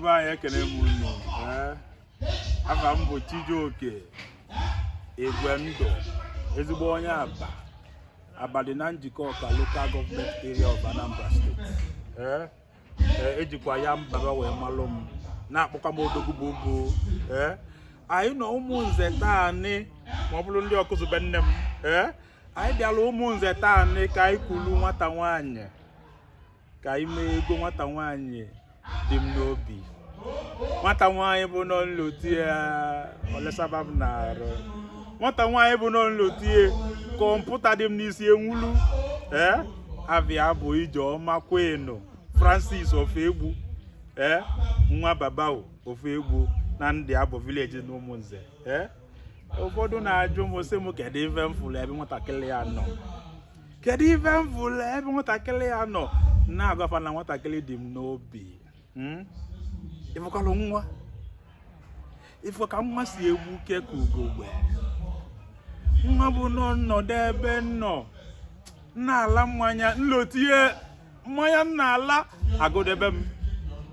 be anyị ekene m unu afa m bụ Chijioke Igwendụ ezigbo onye Aba Aba dị na Njikọka lokal gọọmenti area of Anambra steeti ejikwa e ya mbaba wee malụ m na-akpọkwa m odogwu bụ bụ anyị nọ ụmụnze taanị ma ọ bụlụ ndị Ọkụzụ be nne m anyị bịalụ ụmụnze taanị ka anyị kulu nwata nwaanyị ka anyị mee ego nwata nwaanyị dị m n'obi nwata nwaanyị bụ nọ nlote ya olesaba m n'arụ nwata nwaanyị bụ nọ nlote ya kọmputa dị m n'isi enwulu ee afa ya bụ ijeọma queen francis ọfọegbu ee nwa baba ọfọegbu na ndịabọ vileji na ụmụnze ee ụfọdụ na-ajụ m sị m kedu ife m fụlụ ebe nwatakịrị a nọ kedu ife m fụlụ ebe nwatakịrị a nọ na-agwa fa na nwatakịrị dị m n'obi hmm? ịfụkwalụ nwa ịfụ ka nwa si egbuke ka ugogbe nwa bụ nọ nnọdụ ebe nọ na-ala mmanya nlote ya mmanya m na-ala agụdebe m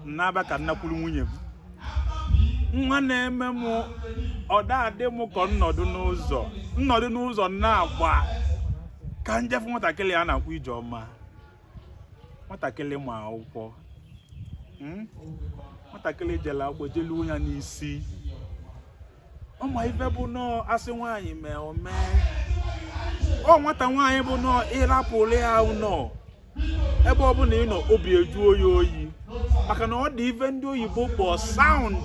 nnaba ka nnakwuru nwunye m nwa na-eme m ọ da adị m ka nnọdụ n'ụzọ nnọdụ n'ụzọ na-agba ka nje fụ nwatakịrị a na-akpọ ijeọma nwatakịrị ma akwụkwọ hmm? nwatakịrị jelu akwụkwọ jelu ya n'isi ọ ma ife bụ nọ a sị nwaanyị mee o mee ọ nwata nwaanyị bụ nọ ị rapụlụ ya ụnọ ebe ọbụna ị nọ obi ejuo yi oyi maka na ọ dị ife ndị oyibo kpọ sound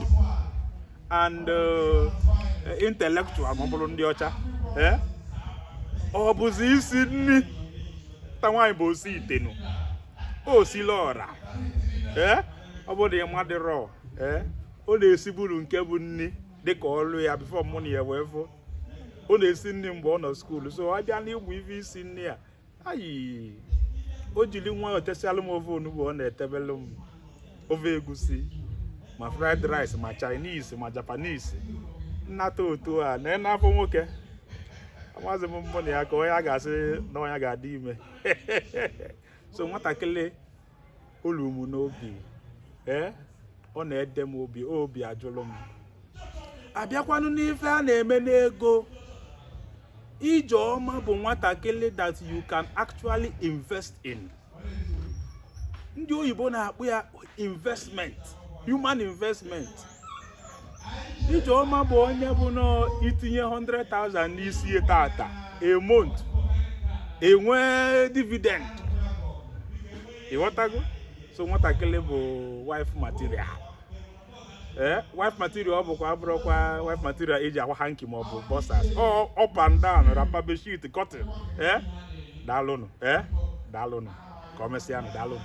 and uh, intellectual ma ọ bụlụ ndị ọcha eh? ọ bụzi isi nni nwata nwaanyị bụ osi ite na osili ọra eh? ọ bụ na ị madịrọ eh? ọ na-esiburu nke bụ nni dịka ọlụ ya bifo mụ na ya wee fụ ọ na-esi nni mgbe ọ nọ skuulu so a bịa n'ịgba ife isi nni a ayi o jiri nwa o tesịalụ m ofe onugbu ọ na-etebelụ m ofe egusi ma fried rice ma chinese ma japanese nnata otu a nene afọ nwoke amazi m mụ na ya ka onye a ga-asị na onye ga-adị ime so nwatakịrị o lu m n'obi ee ọ na-ede m obi obi ajụlụ m abịakwanụ n'ife a na-eme n'ego ijeọma bụ nwatakịrị that you can actually invest in ndị oyibo na-akpọ ya investment human investment Ijeoma bụ onye bụ na itinye 100,000 n'isi ya tata a month enwe dividend ịghọtago so nwatakịrị bụ wife material ee wife material ọ bụkwa abụrụkwa wife material eji akwa hanki maọbụ bọsas up and down rapa beshit cotton ee daalụnụ ee daalụnụ ka ọ mesịa nụ daalụnụ